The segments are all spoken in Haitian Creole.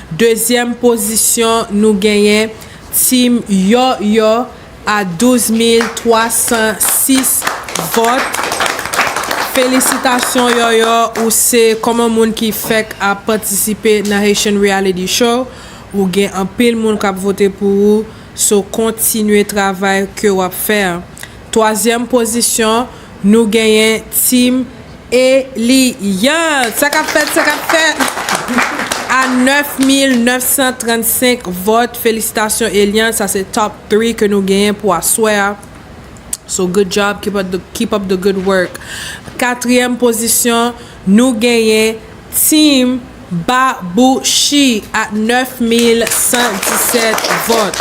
Dezyèm pozisyon nou genyen Team Yò Yò a 12306 vòt. Felisitasyon Yò Yò ou se kòman moun ki fèk ap patisipe nan Haitian Reality Show ou gen anpil moun kap vote pou ou so kontinye travay ke wap fè an. Twazyèm pozisyon. Nou genyen team Eliante. Sa kap fèt, sa kap fèt. A 9935 vòt, felisitasyon Eliante, sa se top 3 ke nou genyen pou aswè a. So good job, keep up the good work. Katriyèm pozisyon, nou genyen. Team Babouchi ak 9117 vòt.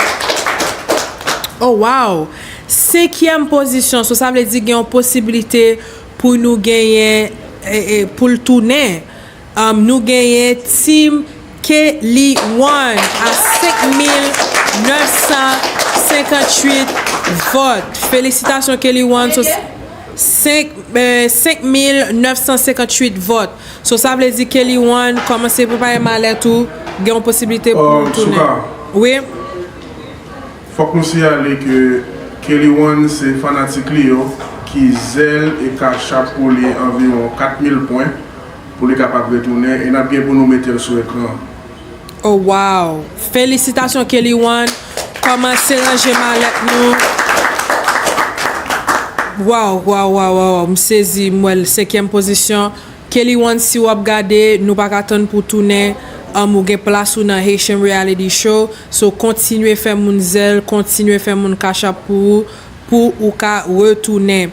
Oh waww! Senkyèm pozisyon, so sa vle di gen yon posibilite pou nou genyen, pou l tounen. Nou genyen Team. Ke li one a 5958 vòt. Felisitasyon Kelly one. Konbyen? 5 5958 vòt. So sa vle di Kelly one kòmanse prepare malèt ou gen yon posibilite pou ou tounen. Souka. Wi. Fòk nou siyale ke Kelly one se fanatik li yo ki zèl e ka chap pou li anviwon 4000 pwen. Pou li kapab retounen e nap gen pou nou metel sou ekran an. Oh waww felisitasyon Kelly one kòmanse ranje malèt nou waww waww waww waww m sezi m wèl senkyèm pozisyon Kelly one si wap gade nou pa ka tann pou tounen humm ou gen plas ou nan Haitian reality show so kontinye fè moun zèl kontinye fè moun cash app pou ou pou ou ka retounen.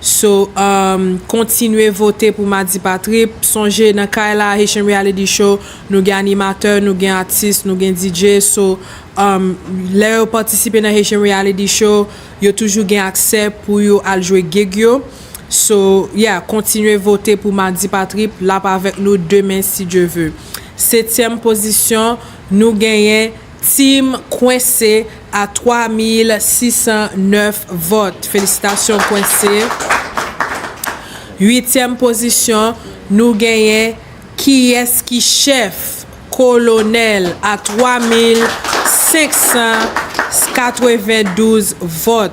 So umm kontinye vote pou Madi pa trip, sonje nan kay la Haitian Reality Show nou gen animatè, nou gen atis, nou gen DJ so umm lè yo patisipe nan Haitian Reality Show yo toujou gen aksè pou yo al jwe gig yo so yeah kontinye vote pou Madi pa trip lap avèk nou demen si Dye ve. Setyèm pozisyon nou genyen. Team Kwense a 3609 vòt. Felisitasyon Kwense. Uityèm pozisyon nou genyen Kiyès ki chèf? Kolonèl a 3592 vòt.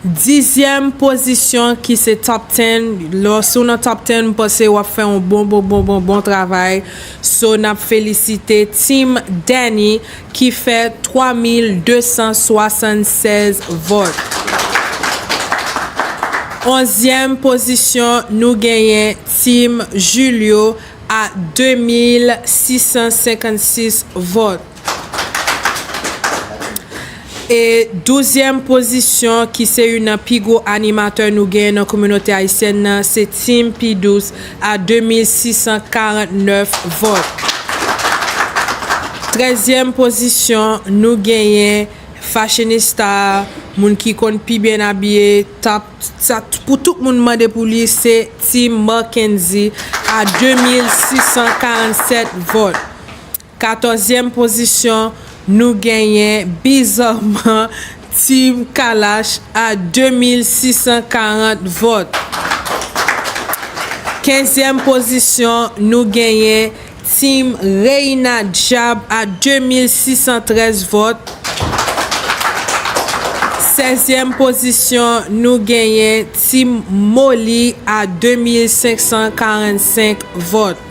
Dizyèm pozisyon ki se top ten lò si w nan top ten m panse w ap fè yon bon bon bon bon bon travay so n ap felisite Team Danny ki fè 3276 vòt Onzyèm pozisyon nou genyen Team Julio a 2656 vòt. E douzyèm pozisyon ki se youn nan pi gwo animatè nou genyen nan kominote ayisyèn nan se Team P. Douce a 2649 vòt. Trèzyèm pozisyon nou genyen fashionista, moun ki konn pi byen abiye, top, sa pou tout moun mande pou li se Team Marckendy a 2647 vòt. Katòzyèm pozisyon, nou genyen bizarman Team Kalash a 2640 vòt. Kenzyèm pozisyon, nou genyen Team Reina Dyab a 2613 vòt. Sèzyèm pozisyon, nou genyen Team Molly a 2545 vòt.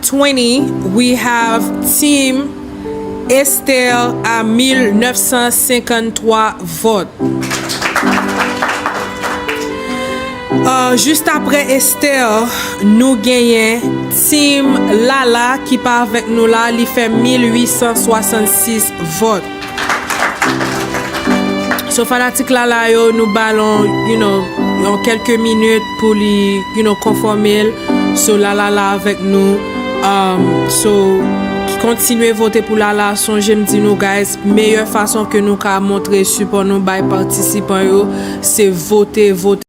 20 we have team Esther a 1953 vòt ahh just aprè Esther nou genyen team Lala ki pa avèk nou la li fè 1866 vòt. So fanatik Lala yo nou bal yon kelke minit pou li konfòmel so Lala la avèk nou so kontinye vote pou Lala sonje m di nou guys meyè fason ke nou ka montre sipò nou bay patisipan yo se vote vote.